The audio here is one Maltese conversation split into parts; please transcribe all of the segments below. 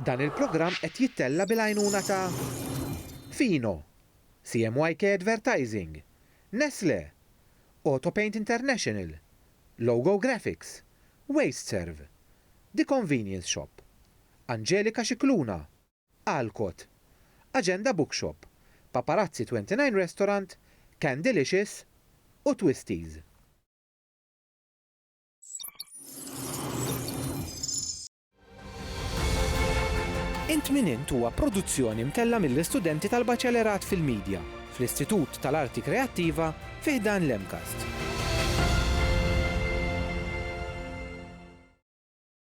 Dan il-programm qed jittella' bil-għajnuna ta' Fino, CMYK Advertising, Nestlé, Autopaint International, Logo Graphics, Wasteserv, The Convenience Shop, Angelika Scicluna, Alcott, Agenda Bookshop, Paparazzi 29 Restaurant, Candylicious u Twisties. Int Min Int huwa produzzjoni mtellgħa mill-istudenti tal-Baċellerat fil-Media fl-Istitut tal-Arti Kreattiva fi ħdan l-MCAST.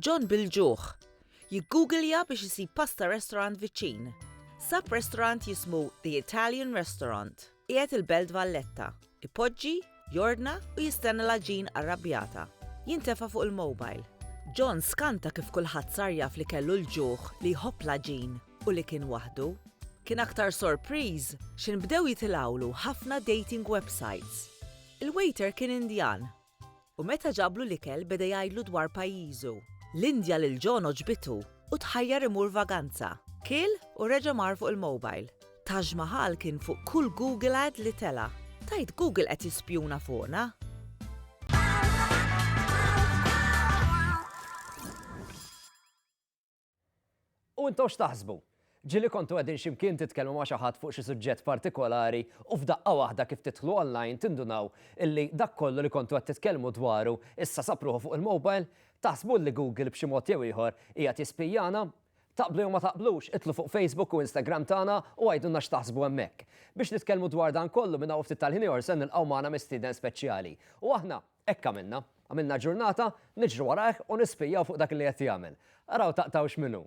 John bil-ġuħ. Jiggugilja biex isib pasta restaurant viċin. Sab restaurant jismu The Italian Restaurant. Qiegħed il-Belt Valletta. Ipoġġi, jordna u jistenna l-aġin arrabjata. Jintefa' fuq il-mobile. John skanta kif kulħadd sar jaf li kellu l-ġuħ li jħobb l-aġin. u li kien waħdu. Kien aktar sorpriż x'inbdew jitilgħulu ħafna dating websites. Il-waiter kien Indjan u meta ġablu l-ikel beda jgħidlu dwar pajjiżu. L-Indja lil John għoġbitu u tħajjar imur vaganza. Kiel u reġa' mar fuq il-mobile. Taj Mahal kien fuq kull Google ad li tela'. Tgħid Google qed jispjuna fuqna? U intom x'taħsbu? Ġieli kontu qegħdin xi mkien titkellmu ma' xi ħadd fuq xi suġġett partikolari u f'daqqa waħda kif tidħlu online tindunaw illi dak kollu li kontu qed titkellmu dwaru issa sab ruħu fuq il-mobile? Taħsbu illi Google b'xi mod jew ieħor qiegħed jispijjana? Taqblu jew ma taqblux, idħlu fuq Facebook u Instagram tagħna u għidulna x'taħsbu hemmhekk. Biex nitkellmu dwar dan kollu minn hawn u ftit tal-ħin ieħor se nilqgħu magħna mistieden speċjali. U aħna, Hekk għamilna. Għamilna ġurnata niġru warajh u nispijjaw fuq dak li qed jagħmel. Araw taqtgħu x'minhu.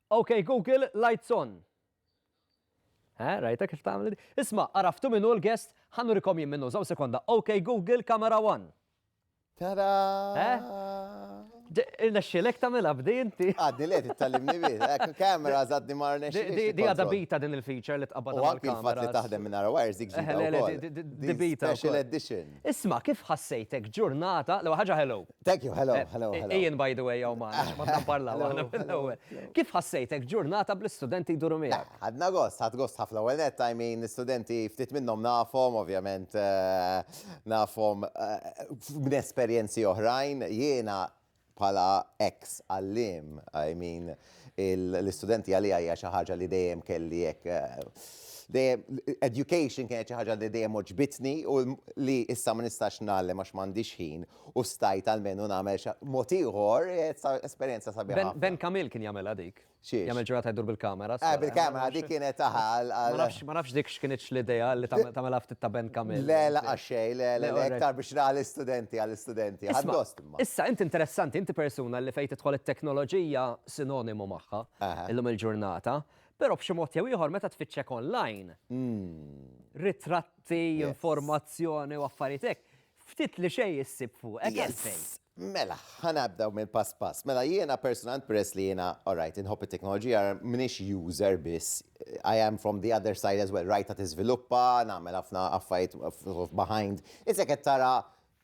Ok Google, lights on. Eħe, rajta kif tagħmel di? Isma', għaraftu min hu l-guest? Ħa nurikom jien min hu, żomm sekonda. Ok Google, camera one. Tara! Irnexxilek tagħmilha b'di inti. Għadni le tittallimni bi. Ekk kamera żadni ma rnexxilix. Di għadha bita din il-feature li tqabad mal-kamera. U anki l-fatt li taħdem minn ara wires dik ġdida. Di bita. Special edition. Isma' kif ħassejtek ġurnata, l ħaġa hello. Thank you, hello, eh, hello, eh, hello. Ian, by the way, għaw maħna, maħna parlaw għana mill-ewel. Kif ħassejtek ġurnata bl-studenti jduru miegħek? Għadna gost, għad gost ħafna ewwel net, I mean, studenti ftit minnhom nafhom, ovvjament eh, nafhom minn esperjenzi oħrajn, jiena bħala ex għallim, I mean, l-studenti għalija hija xi ħaġa li dejjem kelli hekk education kienet xi ħaġa li dejjem oġbitni u li issa ma nistax nagħlem għax m'għandix ħin u stajt almenu nagħmel xi mod ieħor, esperjenza sabiħa ħafna. Ben Camille kien jagħmilha dik. Xiex? Jagħmel ġurnata jdur bil-kamera. Eh, bil-kamera dik kienet taħa għal. Ma nafx dik x'kienitx l-idea li tagħmilha ftit ta' Ben Camille. Le, la għaxxej, le, le, le, iktar biex ra l-istudenti għall-istudenti. Għaddost imma. Issa, inti interessanti, inti persuna li fejn tidħol it-teknoloġija sinonimu magħha illum il-ġurnata, però b'xi mod jew ieħor meta tfittxek online, ritratti, informazzjoni u affarijiet hekk, Ftit li xejn issib fuqek għalfejn. Yes! Mela, ħa nabdew mill-pass pass. Mela jiena personalment peress li jiena alright inħobb it-teknoloġija m'iniex user biss, I am from the other side as well, rajtha tiżviluppa, nagħmel ħafna affarijiet behind. Issa qed tara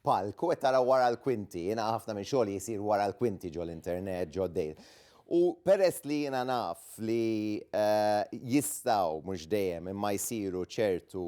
palk u qed tara wara l-kwinti, jiena ħafna minn xogħli jsir wara l-kwinti ġol-internet, ġo dejl. U peress li jiena naf li jistgħu mhux dejjem imma jsiru ċertu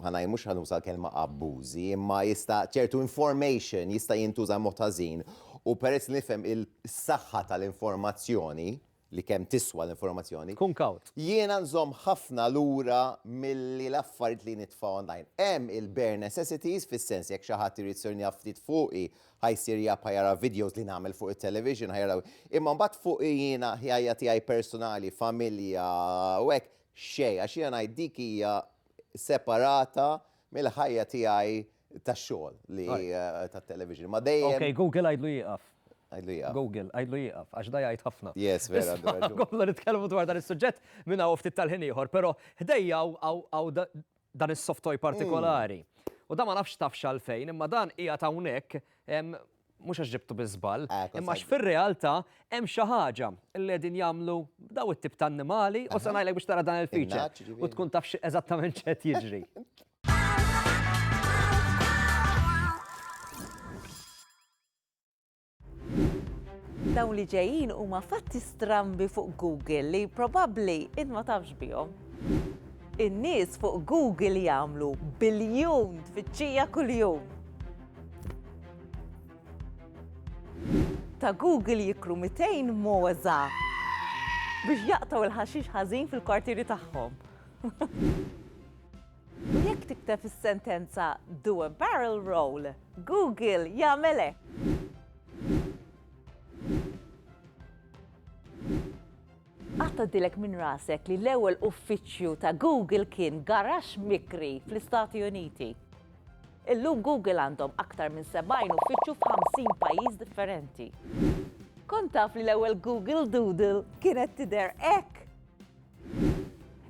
ħa ngħid mhux ħa nuża l-kelma abbużi, imma jista' ċertu information jista' jintuża b'mod ħażin u peress li nifhem is-saħħa tal-informazzjoni, li kemm tiswa l-informazzjoni. Kun kawt. Jiena nżomm ħafna lura milli l-affarijiet li nitfa' online. Hemm il-bare necessities, fis-sens jekk xi ħadd irid jsir jaf ftit fuqi, ħa jsir jaf ħa jara videos li nagħmel fuq it-television, ħa jara. Imma mbagħad fuqi jiena, ħajja tiegħi personali, familja u hekk, xejn, għax jiena ngħid dik hija separata mill-ħajja tiegħi tax-xogħol li tat-television. Ma dejjem. Ok, Google għidlu jieqaf. Għidlu jieqaf. Google, għidlu jieqaf, għax da jgħid ħafna. Yes, vera. Għodu nitkellmu dwar dan is-suġġett minn hawn ftit tal-ħin ieħor, però ħdejja hawn dan is-soft toy partikolari. U da ma nafx tafx għalfejn, imma dan qiegħed hawnhekk mhux għax ġibtu bi żball, eh, imma għax fir-realtà hemm xi ħaġa li qegħdin jagħmlu daw it-tip ta' annimali u se ngħidlek biex tara dan il-feature u tkun taf eżattament x'qed jiġri. Dawn li ġejjin huma fatti strambi fuq Google li probabbli id ma tafx bihom. In-nies fuq Google jagħmlu biljun tfittxija kuljum. Ta' Google jikru 200 mogħża biex jaqtgħu l-ħaxix ħażin fil-kwartieri tagħhom. U jekk tikteb is-sentenza Do a barrel roll, Google jagħmel hekk. Qatt tgħaddilek minn rasek li l-ewwel uffiċċju ta' Google kien garaxx mikri fl-Istati Uniti? Illum Google għandhom aktar minn 70 uffiċċju f'ħamsin pajjiż differenti. Kont taf li l-ewwel Google Doodle kienet tidher hekk?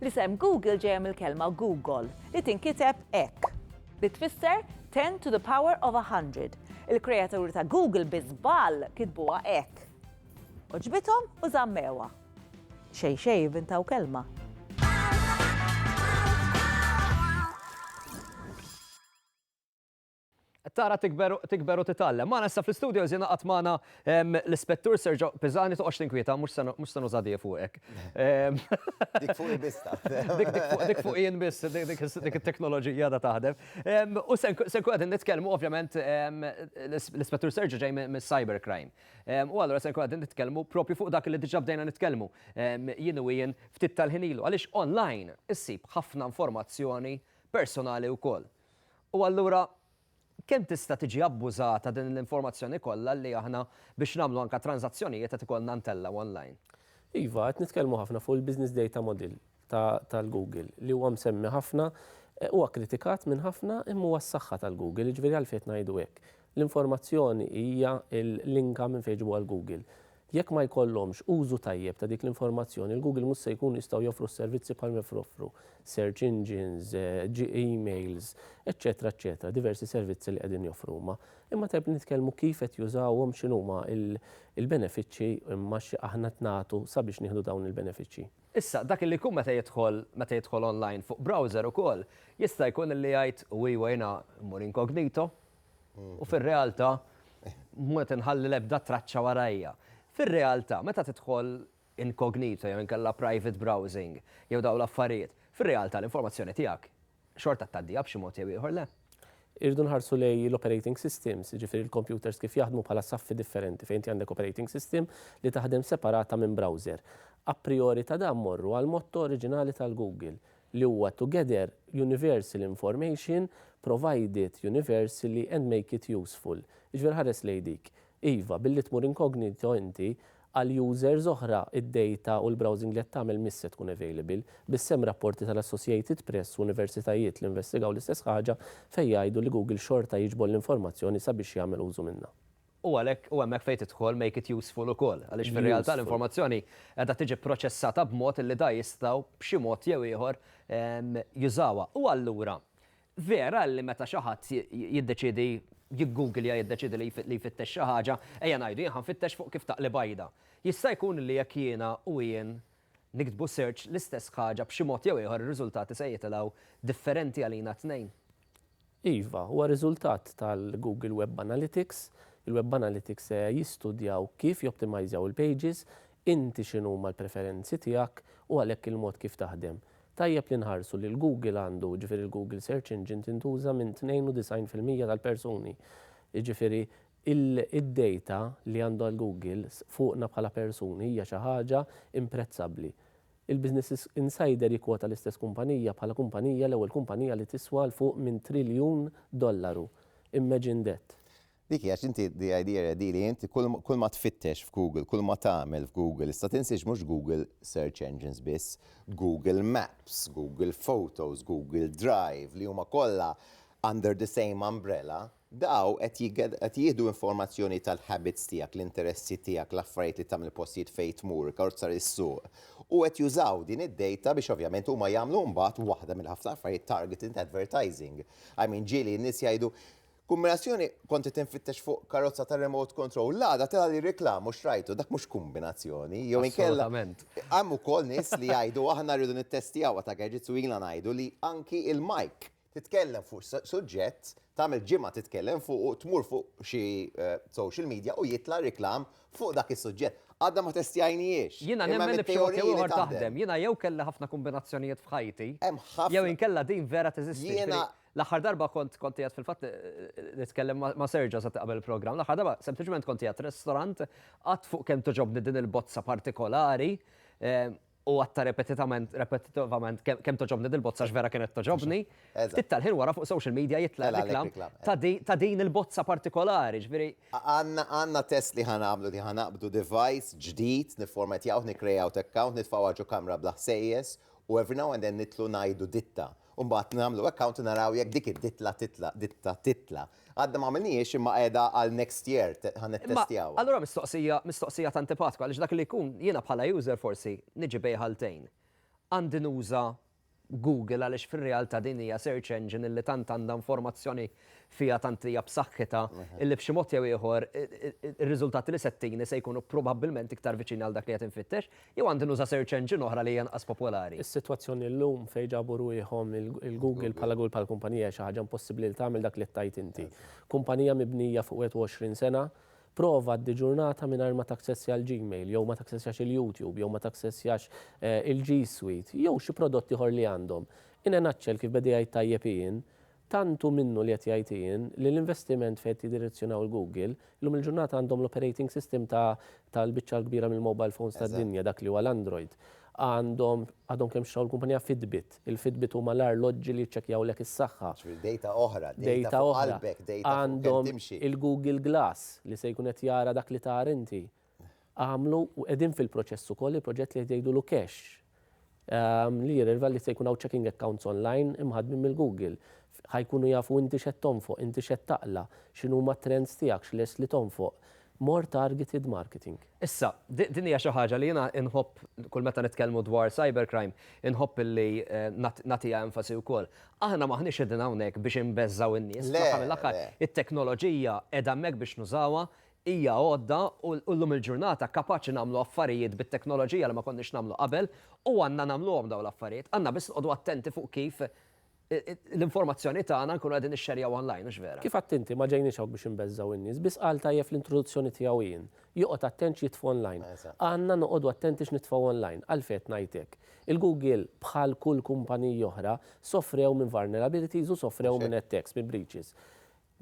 L-isem Google ġejja mill-kelma Gugol, li tinkiteb hekk. Li tfisser ten to the power of a hundred. Il-kreaturi ta' Google bi żball kitbuha hekk. Għoġbithom u żammewha. Xejn xejn ivvintaw kelma. Tara tikber u titgħallem. Magħna issa fl-istudios jingħaqad magħna l-Ispettur Sergio Pisani toqgħodx tinkwieta mhux se nuża dija fuqek. Dik fuq il-bista. Dik fuq jien biss, dik it-teknoloġija da taħdem. U se nkun qegħdin nitkellmu ovvjament l-Ispettur Sergio ġej mis-cybercrime. U allura se nkun qegħdin nitkellmu propju fuq dak li diġà bdejna nitkellmu jien u jien ftit tal-ħin ilu. Għaliex online issib ħafna informazzjoni personali wkoll. U allura kemm tista' tiġi abbużata din l-informazzjoni kollha li aħna biex nagħmlu anke tranżazzjonijiet qed ikollna ntellgħu online? Iva, qed nitkellmu ħafna fuq il-business data model. tal-Google li huwa msemmi ħafna, huwa kkritikat minn ħafna imma huwa s-saħħa tal-Google, jiġifieri għalfejn qed ngħidu hekk. L-informazzjoni hija l-inka minn fejn jġibuha l-Google. Jekk ma jkollhomx użu tajjeb ta' dik l-informazzjoni, il-Google mhux se jkunu jistgħu joffru s-servizzi bħal ma joffru search engines, emails, eċċetera eċċetera, diversi servizzi li qegħdin joffru huma. Imma tajjeb li nitkellmu kif qed jużawhom, x'inhuma l-benefiċċji imma x'aħna qed nagħtu sabiex nieħdu dawn il-benefiċċji. Issa, dak li jkun meta jidħol, meta jidħol online fuq browser ukoll, jista' jkun li jgħid, u iwa jiena mmur incognito, u fir-realtà mhux qed inħalli l-ebda traċċa warajja. Fir-realtà, meta tidħol incognito jew inkella private browsing, jew dawn l-affarijiet, fir-realtà l-informazzjoni tiegħek xorta tgħaddiha b'xi mod jew ieħor, le? Irridu nħarsu lejn l-operating systems, jiġifieri l-kompjuters kif jaħdmu bħala saffi differenti fejn inti għandek operating system li taħdem separata minn browser. A priori ta' dan mmorru għall-motto oriġinali tal-Google li huwa to gather universal information, provide it universally and make it useful. Jiġifieri ħares lejn dik. Iva, billi tmur incognito inti, Għal users oħra, id-dejta u l-browsing li qed tagħmel mhix se tkun available. Biss hemm rapporti tal-Associated Press u universitajiet li investigaw l-istess ħaġa fejn jgħidu li Google xorta jiġbor l-informazzjoni sabiex jagħmel użu minnha. U għalhekk hu hemmhekk fejn tidħol make it useful ukoll, għaliex fir-realtà l-informazzjoni qiegħda tiġi pproċessata b'mod li da jistgħu b'xi mod jew ieħor jużawha. U allura, Vera li meta xi ħadd jiddeċiedi jiggugilja, jiddeċiedi li jfittex xi ħaġa, ejja ngħidu jien ħa nfittex fuq kif taqli bajda. Jista' jkun li jekk jiena u jien niktbu search l-istess ħaġa b'xi mod jew ieħor ir-riżultati se jitilgħu differenti għalina t-tnejn? Iva, huwa riżultat tal-Google Web Analytics. Il-Web Analytics se jistudjaw kif joptimajżjaw il-pages, inti x'inhuma l-preferenzi tiegħek u għalhekk il-mod kif taħdem. Tajjeb li nħarsu li l-Google għandu, jiġifieri l-Google Search Engine tintuża minn 92 fil-mija tal-persuni. Jiġifieri id-dejta li għandha l-Google fuqna bħala persuni hija xi ħaġa imprezzabbli. Il-Business Insider jikkwota l-istess kumpanija bħala kumpanija l-ewwel kumpanija li tiswa 'l fuq minn triljun dollaru. Imagine that! Dik hi għax inti the idea ready li inti kull ma tfittex f'Google, kull ma tagħmel f'Google, issa tinsiex mhux Google search engines biss, Google Maps, Google Photos, Google Drive li huma kollha under the same umbrella, daw qed jieħdu informazzjoni tal-habits tiegħek, l-interessi tiegħek, l-affarijiet li tagħmel, il-postijiet fejn tmur, ikkarozza li ssuq, u qed jużaw din id-data biex ovvjament huma jagħmlu mbagħad waħda mill-ħafna affarijiet targeted advertising. I mean ġieli n-nies jgħidu Kumbinazzjoni kont qed infittex fuq karozza ta' remote control, l-għada tela' li reklam u xtrajtu, dak mhux kumbinazzjoni, jew inkella hemm ukoll nies li jgħidu aħna rridu nittestjawha ta' gadgets u ilna ngħidu li anki l-mike titkellem fuq suġġett, tagħmel ġimgħa titkellem fuqu, tmur fuq xi social media u jitla' reklam fuq dak is-suġġett. Għadna ma testjajnihiex. Jiena nemmen li b'xi mod jew ieħor taħdem. Jiena jew kelli ħafna kumbinazzjonijiet f'ħajti jew inkella din vera teżisti. L-aħħar darba kont kont qiegħed fil-fatt nitkellem ma' Serġa sa qabel il-programm. L-aħħar darba sempliċement kont qiegħed restorant qatt fuq kemm toġobni din il-bozza partikolari u għatta repetitament, repetitivament, kem toġobni dil-bozza x'vera kienet toġobni. Ftit tal-ħin wara fuq social media jitla reklam ta' din il-bozza partikolari, ġviri. Għanna test li ħan għamlu li ħan għabdu device ġdid, niformatjaw, nikrejaw t-account, nitfaw għagġu kamra bla ħsejjes, u every now and then nitlu najdu ditta. u mbagħad nagħmlu hekk count u naraw jekk dik id-ditla titla' ditta titla'. Għadna m'għamilnihiex imma qiegħda għal next year te ħa nittestjawha. Allura mistoqsija mistoqsija ta' antipatku għaliex dak li jkun jiena bħala user forsi niġi bejn ħaltejn. Għandi nuża Google għaliex fir-realtà din hija search engine li tant għandha informazzjoni fiha tant hija b'saħħitha, illi b'xi mod jew ieħor ir-riżultati li se tini se jkunu probabbilment iktar viċin għal dak li qed infittex, jew għandi nuża' search engine oħra li hija inqas popolari? Is-sitwazzjoni llum fejn ġabu rwieħhom il-Google bħala Google bħala kumpanija hija xi ħaġa impossibbli li tagħmel dak li qed tgħid inti. Kumpanija mibnija fuq 21 sena, prova għaddi ġurnata mingħajr ma taksessja l-Gmail, jew ma taksessjax il-YouTube, jew ma taksessjax il-G Suite, jew xi prodott ieħor li għandhom. In a nutshell, kif beda jgħid tajjeb Ian, Tant hu minnu li qed jgħid Ian li l-investiment fejn qed jiddirezzjonaw il-Google, illum il-ġurnata għandhom l-operating system ta' tal-biċċa l-kbira mill-mobile phones tad-dinja, dak li huwa l-Android. Għandhom, għadhom kemm xtraw l-kumpanija Fitbit. Il-Fitbit huma l-arloġġi li jiċċekkjawlek is-saħħa. Ġifieri dejta oħra, dejta fuq qalbek, dejta fuq kemm timxi. Għandhom il-Google Glass li se jkun qed jara dak li tagħar inti. għamlu u qegħdin fil-proċess ukoll il-proġett li qed jgħidulu Cash, li jirrelva li se jkun hawn checking accounts online imħaddmin mill-Google. Ħa jkunu jafu inti x'qed tonfoq, inti x'qed taqla', x'inhuma t-trends tiegħek, x'lest li tonfoq. More targeted marketing. Issa, din hija xi ħaġa li jiena nħobb kull meta nitkellmu dwar cybercrime, inħobb li nagħtiha enfasi wkoll. Aħna m'aħniex qegħdin hawnhekk biex inbeżżgħu n-nies, fl-aħħar mill-aħħar it-teknoloġija qiegħda hemmhekk biex nużawha, Hija għodda u llum il-ġurnata kapaċi nagħmlu affarijiet bit-teknoloġija li ma konniex nagħmlu qabel u għandna nagħmluhom dawn l-affarijiet. Għandna biss noqogħdu attenti fuq kif l-informazzjoni tagħna nkunu qegħdin nixxerjawha online, hux vera? Kif għedt inti, ma ġejniex hawn biex inbeżżgħu in-nies, biss qal tajjeb fl-introduzzjoni tiegħu Ian, joqgħod attent x'jitfgħu online. Għandna noqogħdu attenti x'nitfgħu online. Għalfejn qed ngħid hekk? Il-Google, bħal kull kumpaniji oħra, sofrew minn vulnerabilities u sofrew minn attacks, minn breaches.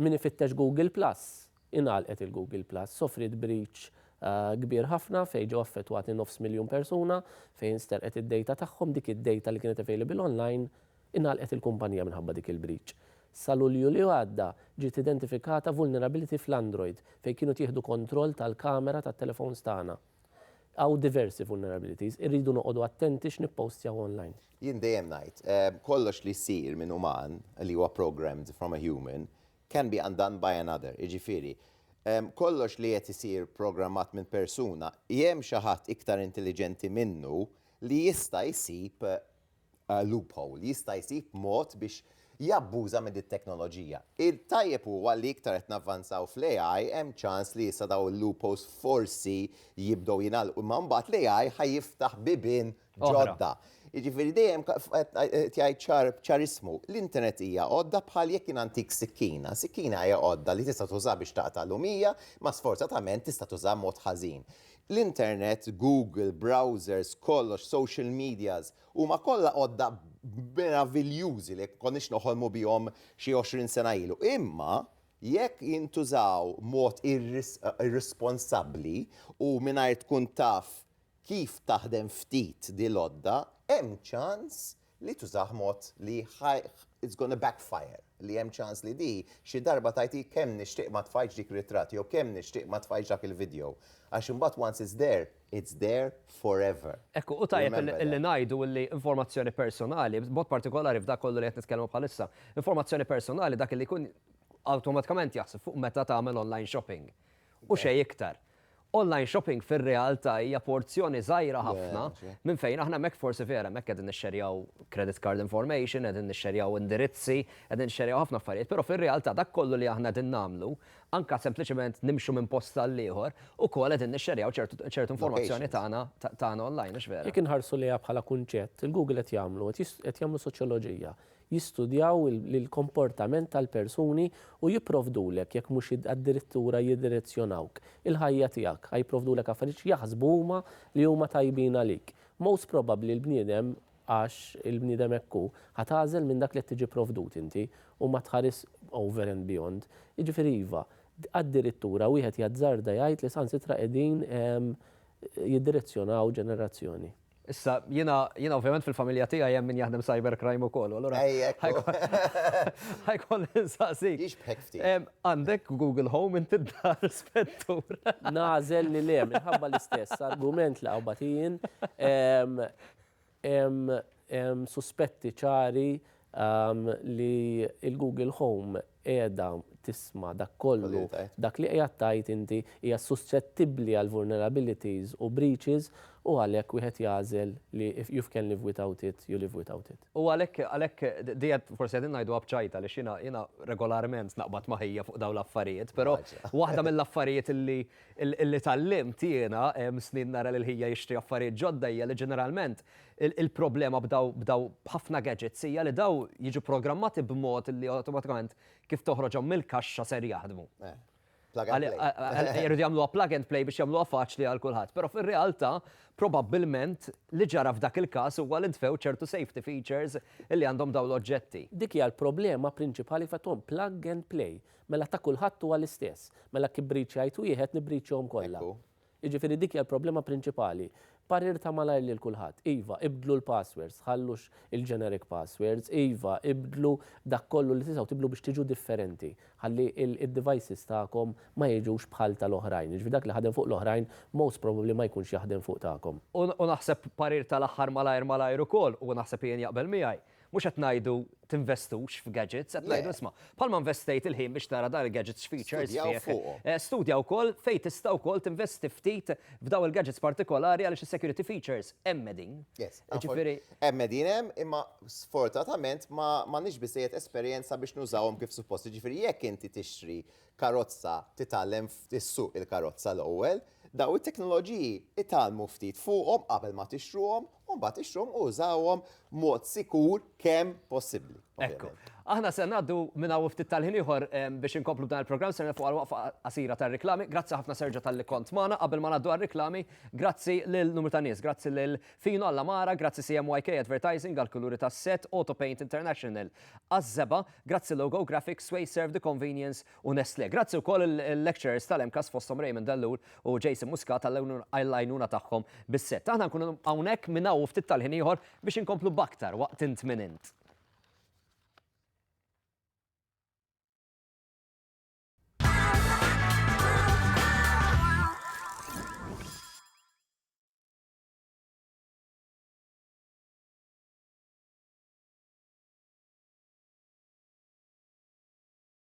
Min ifittex Google Plus, ingħalqet il-Google Plus. Sofriet breach kbir ħafna fejn ġew affettwati nofs miljun persuna, fejn sterqet id-data tagħhom, dik id-data li kienet available online. Ingħalqet il-kumpanija minħabba dik il-breach. Sa Lulju li għadda, ġiet identifikata vulnerability fl-Android fejn kienu tieħdu kontroll tal-kamera tat-telefons tagħna. Hawn diversi vulnerabilities, irridu noqogħdu attenti x'nippostjaw online. Jien dejjem ngħid, kollox li jsir minn uman, li huwa programmed from a human, can be undone by another, jiġifieri, kollox li qed isir programmat minn persuna, hemm xi ħadd iktar intelliġenti minnu li jista' jsib loophole, jista' jsib mod biex jabbuża minn dit-teknoloġija. Il-tajjeb huwa li iktar qed navvanzaw fl-AI hemm ċans li issa dawn il-loopholes forsi jibdew jingħalqu imma mbagħad l-AI ħa jiftaħ bibien ġodda. Jiġifieri dejjem qed jgħid ċar ċarissmu, l-internet hija għodda bħal jekk jien ntik sikkina. Sikkina hija għodda li tista' tuża biex taqta' lumija imma sfortatament tista' tuża mod ħażin. L-internet, Google, browsers, kollox, social medias, huma kollha għodda meraviljużi li jekk konniex noħolmu bihom xi għoxrin sena ilu. Imma jekk jintużaw mod irrisponsabbli u mingħajr tkun taf kif taħdem ftit din l-għodda, hemm ċans li tużah mod li ħa it's gonna backfire, li hemm ċans li di xi darba tgħidhi kemm nixtieq ma tfajtx dik ritratt jew kemm nixtieq ma tfajtx dak il-video. Għax imbagħad once it's there, it's there forever. Hekk hu, u tajjeb illi ngħidu illi informazzjoni personali, b'mod partikolari f'dak kollu li qed nitkellmu bħalissa, informazzjoni personali dak illi jkun awtomatikament jaħseb fuq meta tagħmel online shopping. u xejn iktar. Online shopping fir-realtà hija porzjoni żgħira ħafna minn fejn aħna hemmhekk forsi vera hemmhekk qegħdin nixxerjaw credit card information, qegħdin nixxerjaw indirizzi, qegħdin nixxerjaw ħafna affarijiet, però fir-realtà dak kollu li aħna qegħdin nagħmlu, anke sempliċement nimxu minn post għall-ieħor, ukoll qegħdin nixxerjaw ċertu informazzjoni tagħna tagħna online, mhux vera? Jekk inħarsu lejha bħala kunċett, il-Google qed jagħmlu, qed jagħmlu soċjoloġija, jistudjaw il-komportament tal-persuni u jipprovdulek, jekk mhux addirittura jiddirezzjonawk, il-ħajja tiegħek. Ħa jipprovdulek affarijiet x'jaħsbu huma li huma tajbin għalik. Most probabbli l-bniedem, għax il-bniedem hekk hu, ħa tagħżel minn dak li qed tiġi pprovdut inti u ma tħaris over and beyond. Jiġifieri iva, addirittura wieħed jazzarda jgħid li saħansitra qegħdin jiddirezzjonaw ġenerazzjoni. Issa, jina, jina ovvjament fil-familja tiegħi hemm min jaħdem cybercrime ukoll, allura. Ħajkon insaqsik. Ix bħek ftit. Għandek Google Home inti d-dar spettur. Nażel li le, minħabba l-istess argument li għabatijin, suspetti ċari li l-Google Home qiegħda tisma' dak kollu, dak li qiegħed tgħid inti, hija suscettibbli għal vulnerabilities u breaches u għalhekk wieħed jagħżel li if you've can live without it, you live without it. U għalhekk, għalhekk, di qed, forsi qegħdin ngħiduha b'ċajt għaliex jiena, jiena regolarment naqbad ma' Hija fuq dawn l-affarijiet, però waħda mill-affarijiet li Li tgħallimt jiena, snin nara lil ħija jixtri affarijiet ġodda hija li ġeneralment il-problema b'daw b'ħafna gadgets hija li daw jiġu programmati b'mod li awtomatikament kif toħroġhom mill-kaxxa ser jaħdmu. Plug and play. Jridu jagħmluha plug and play biex jagħmluha faċli għal kulħadd. Però fir-realtà probabbilment li ġara f'dak il-każ huwa li ntfew ċertu safety features li għandhom dawn l-oġġetti. Dik hija l-problema prinċipali f'għadhom plug and play. Mela ta' kulħadd huwa l-istess. Mela kibrit xajt wieħed nibritxhom kollha. Jiġifieri dik hija l-problema prinċipali. Parir ta' malajr lil kulħadd, iva, ibdlu l-passwords, tħallux il-generic passwords, iva, ibdlu dak kollu li tistgħu tibdlu biex tiġu differenti, ħalli d-devices tagħkom ma jiġux bħal tal-oħrajn. Jiġifieri dak li ħadem fuq l-oħrajn most probably ma jkunx jaħdem fuq tagħkom. U naħseb parir tal-aħħar malajr malajr ukoll, u naħseb Ian jaqbel miegħi, Mhux qed ngħidu tinvestux f'gadgets, qed ngħidu isma', bħalma investejt il-ħin biex tara dan il-gadgets features fih. Studja wkoll fejn tista' wkoll tinvesti ftit f'daw il-gadgets partikolari għaliex is-security features hemm qegħdin. Hemm qegħdin hemm, imma sfortunatament m'għandniex biżżejjed esperjenza biex nużawhom kif suppost. Jiġifieri jekk inti tixtri karozza titgħallem issuq il-karozza l-ewwel, daw it-teknoloġiji itgħallmu ftit fuqhom qabel ma tixtruhom u mbagħad ixtruhom u użawhom mod sikur kemm possibbli. Ekku. Aħna se ngħaddu minn hawn ftit tal-ħin ieħor biex inkomplu dan il-programm se fuq għal-waqfa qasira tar-riklami. Grazzi ħafna Serġa tal-li kont magħna qabel ma ngħaddu għar-riklami. Grazzi lil numru ta' nies, grazzi lil Fino alla Mara, grazzi CMYK Advertising għall-kuluri tas-set, Auto Paint International għaż-żeba, grazzi Logo Graphics, Sway Serve the Convenience u Nestlé. Grazzi wkoll il-lecturers tal-MCAST fosthom Raymond Ellul u Jason Muscat għall-għajnuna tagħhom bis-sett. Aħna nkunu hawnhekk minn hawn u ftit tal-ħin ieħor biex inkomplu b'aktar waqt int min int.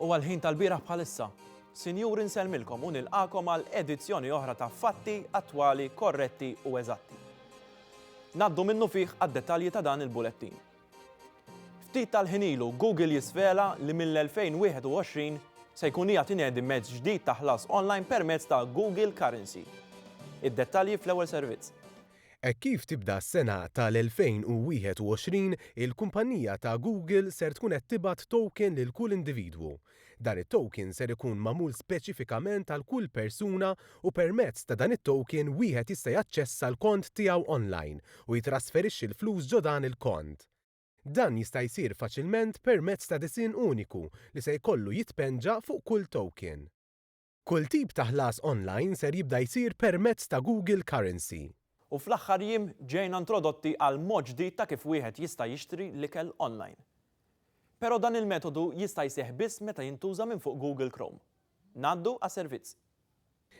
Huwa l-ħin tal-bieraħ bħalissa. Sinjuri nsellmilkom u nilqagħkom għal edizzjoni oħra ta' Fatti Attwali Korretti u Eżatti. Ngħaddu minnufih għad-dettalji ta' dan il-bulettin. Ftit tal-ħin ilu Google jisvela li mill-2021 se jkun qiegħed inedi mezz ġdid ta' ħlas online permezz ta' Google Currency. Id-dettalji fl-ewwel servizz. Hekk kif tibda s-sena tal-2021, il-kumpannija ta' Google ser tkun qed tibgħat token lil kull individwu. Dan it-token ser ikun magħmul speċifikament għal kull persuna u permezz ta' dan it-token wieħed jista' jaċċessa l-kont tiegħu online u jitrasferixxi l-flus ġo dan il-kont. Dan jista' jsir faċilment permezz ta' disinn uniku li se jkollu jitpenġa fuq kull token. Kull tip ta' ħlas online ser jibda jsir permezz ta' Google Currency. U fl-aħħar jiem ġejna introdotti għal mod ġdid ta' kif wieħed jista' jixtri l-ikel online. Pero dan il-metodu jista' jseħħ biss meta jintuża minn fuq Google Chrome. Ngħaddu għas-servizz.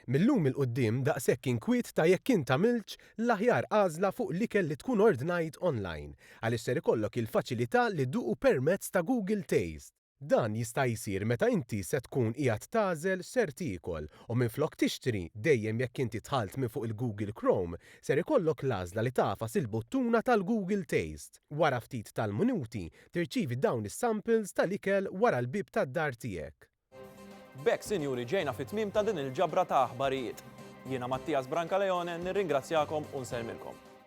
Mil-lum 'il quddiem daqshekk inkwiet ta' jekk int għamiltx l-aħjar għażla fuq l-ikel li tkun ordnajt online għaliex ser ikollok il-faċilità li dduqu permezz ta' Google Taste. Dan jista' jsir meta inti se tkun qiegħed tagħżel x'ser tiekol u minflok tixtri dejjem jekk inti dħalt minn fuq il-Google Chrome ser ikollok l-għażla li tagħfas il-buttuna tal-Google Taste. Wara ftit tal-minuti tirċievi dawn is-samples tal-ikel wara l-bieb tad-dar tiegħek. B'hekk sinjuri ġejna fit-tmiem ta' din il-ġabra ta' aħbarijiet. Jiena Mattias Brancaleone nirringrazzjakom u nsellmilkom.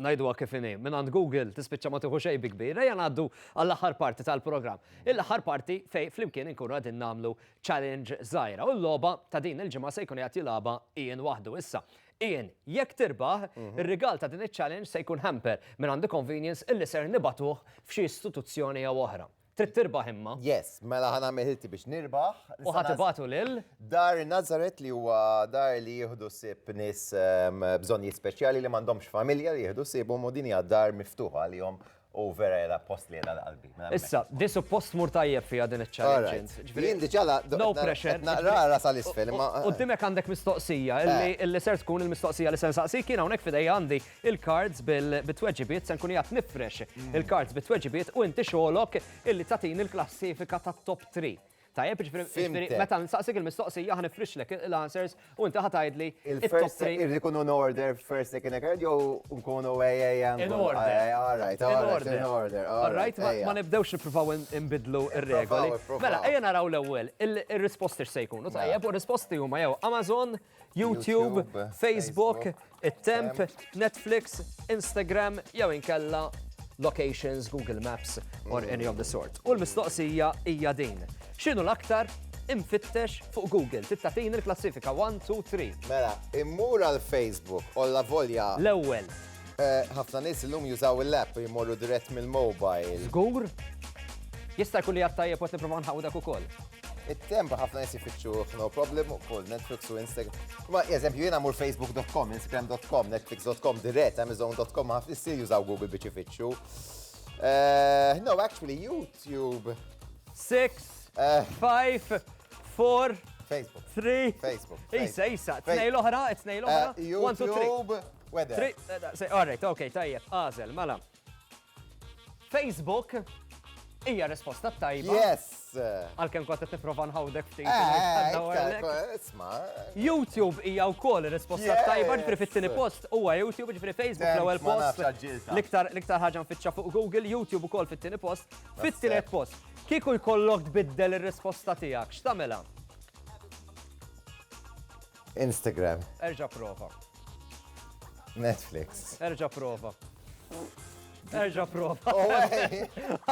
Ngħiduha kif inhi, mingħand Google tispiċċa ma tieħu xejn bi kbir. Ejja ngħaddu għall-aħħar parti tal-programm. Il-aħħar parti fejn flimkien inkunu qegħdin nagħmlu challenge żgħira u l-logħba ta' din il-ġimgħa se jkun qiegħed jilgħabha Ian waħdu. Issa, Ian, jekk tirbaħ, ir-rigal ta' din iċ-challenge se jkun hamper mingħand iConvenience illi ser nibagħtuh f'xi istituzzjoni jew oħra. Trid tirbaħ imma. Yes, mela ħana meħilti biex nirbaħ. U ħatibatu lil? Dar Nazaret li huwa dar li jieħdu sib nis ehm, bżonnijiet speċjali li m'għandhomx familja li jieħdu sibhom u din hija dar miftuħa għalihom u vera jela post li jela l-qalbi. Mela, Issa, di suppost mur tajjeb fija din il-challenge. Jien diċala, no pressure. Naqrara sal-isfel. U dimek għandek mistoqsija, eh. illi ser tkun il-mistoqsija li sen saqsi kiena unek fidej għandi il-cards bit-tweġibiet, se nkun qiegħed nifrex il-cards bit-tweġibiet u inti xogħlok illi tagħtini l-klassifika tat-top three. Tajjeb, jiġifieri- jiġifieri Fhimtek. meta nsaqsik il-mistoqsija ħa nifrixlek l-answers u inti ħa tgħidli it-top Il-first three. irrid ikunu in order first second third jew nkunu AAM. In order. All right, In all right, order. in order. all All right, ma- ejja. ma nibdewx nippruvaw in- inbidlu r-regoli. Ippruvaw, ippruvaw. Mela, ejja naraw l-ewwel il- ir-risposti x'se jkunu tajjeb u r-risposti huma jew Amazon, YouTube, Facebook, it-temp, Netflix, Instagram jew inkella locations, Google Maps or any of the sort. U l-mistoqsija hija din. X'inhu l-aktar imfittex fuq Google. Tittatin il-klassifika 1, 2, 3. Mela, immur għal Facebook, olla volja. L-ewwel, Ħafna nies illum jużaw il-app jmorru dirett mill-mobile. Żgur? Jista' jkun li għattajjeb u tipprova nħawu dak ukoll. It-temp ħafna nies jifittxu no problem ukoll Netflix u Instagram. Ma eżempju jiena mur facebook.com, instagram.com, netflix.com dirett, amazon.com ħafna nies jużaw Google biex ifittxu. Eh, no, actually YouTube. 6 5 4 Facebook. 3 Facebook. Isa, isa, tnej l-oħra, tnej l-oħra. Eh, YouTube. Weather. Eh, all right, ok, tajjeb, għazel, mela. Facebook hija risposta tajba. Yes. Għalkemm kont qed nipprova nħawdek ftit. Eh, eh, isma. YouTube hija wkoll risposta tajba ġifri fit-tieni post huwa YouTube ġifri Facebook l-ewwel post. L-iktar l-iktar ħaġa nfittxa fuq Google, YouTube ukoll fit-tieni post, fit-tielet post. Kieku jkollok tbiddel ir-risposta tiegħek, x'tagħmilha? Instagram. Erġa' prova. Netflix. Erġa' prova. Erġa prova. Oh,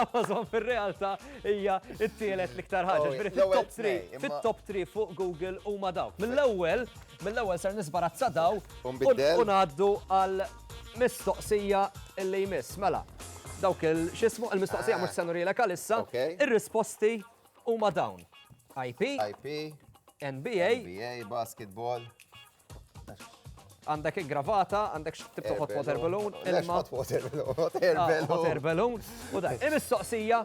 Amazon fil-realtà hija it-tielet l-iktar ħaġa. Oh, fit-top 3, fit-top 3 fuq Google u ma dawk. Mill-ewwel, mill-ewwel ser nisbarazza daw u ngħaddu għal mistoqsija illi jmiss. Mela, dawk il-xismu il-mistoqsija ah. mhux senu rilek għalissa, ir-risposti Huma dawn. IP. IP. NBA. NBA, basketball. Għandek gravata, għandek tibtu hot water balloon, ilma. Hot water balloon, hot air ah, balloon. Hot air balloon. U da, il-mistoqsija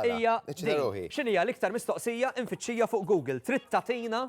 hija. X'inhija l-iktar mistoqsija infittxija fuq Google? Trid tatina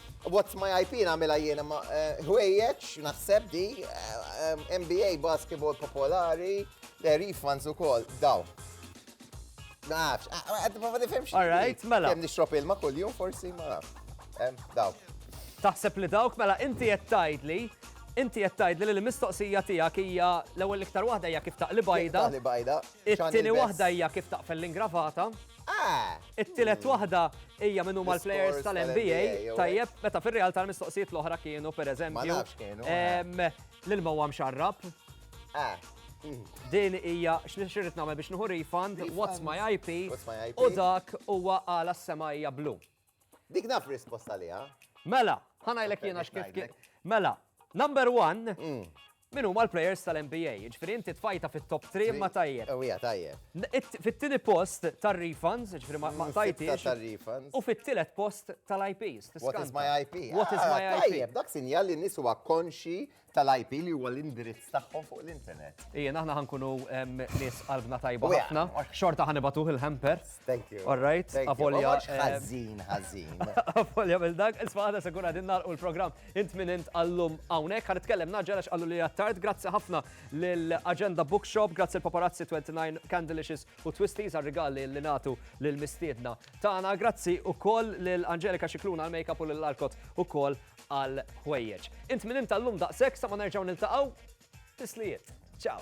What's my IP nagħmilha jiena ma ħwejjeġ naħseb di NBA basketball popolari, refunds ukoll daw. Nafx, għad ma nifhimx. All right, mela. Kemm nixrob ilma kuljum forsi ma nafx. Daw. Taħseb li dawk mela inti qed tgħidli Inti qed tgħidli li l-mistoqsija tiegħek hija l-ewwel iktar waħda hija kif taqli bajda. Taqli bajda. It-tieni waħda hija kif taqfel l-ingravata. Ah, It-tielet waħda hija min huma l-players tal-NBA, tajjeb, meta fir-realtà l-mistoqsijiet l-oħra kienu pereżempju. L-ilma huwa mxarrab. Eh. Din hija x'nixrid nagħmel biex nieħu refund, what's my IP, u dak huwa għala s-sema hija blu. Dik naf risposta liha. Mela, ħanajlek jiena x'kif Mela, number one, mm. Min huma l-players tal-NBA? Ġifieri inti tfajta fit-top 3 imma tajjeb. Ewwija tajjeb. Fit-tieni post tar-refunds, ġifieri ma mm, tajtix. U fit-tielet post tal-IPs. What is my IP? What is ah, my IP? Tajjeb, dak sinjal li nies huwa konxi tal-IP li huwa l-indirizz tagħhom fuq l-internet. Ejja, aħna ħankunu nies qalbna tajba ħafna. Xorta ħanibatuh il-hamper. Thank you. All right, avolja. Ħażin, ħażin. Avolja mill dak, isma' għada se kun għadin nagħlqu l-programm int minn int għallum hawnhekk. Ħa nitkellem naġġel għax qallu li għattard. Grazzi ħafna lill-Agenda Bookshop, grazzi l-Paparazzi 29 Candelicious u Twisties għar-rigali li nagħtu lill-mistiedna tagħna. Grazzi ukoll lil Angelika Xikluna għal-makeup u lill-Arkot ukoll għal ħwejjeġ. Int minn int għallum daqshekk sa ma nerġgħu niltaqgħu. Tislijiet. Ciao.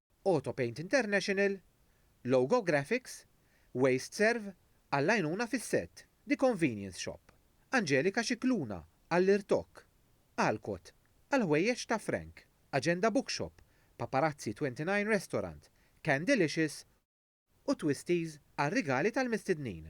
Autopaint International, Logo Graphics, WasteServ għall-għajnuna fis-sett, The Convenience Shop, Angelika Scicluna għall-irtokk, Alcott għall-ħwejjeġ ta' Frank, Agenda Bookshop, Paparazzi 29 Restaurant, Candelicious u Twisties għar-rigali tal-mistednin.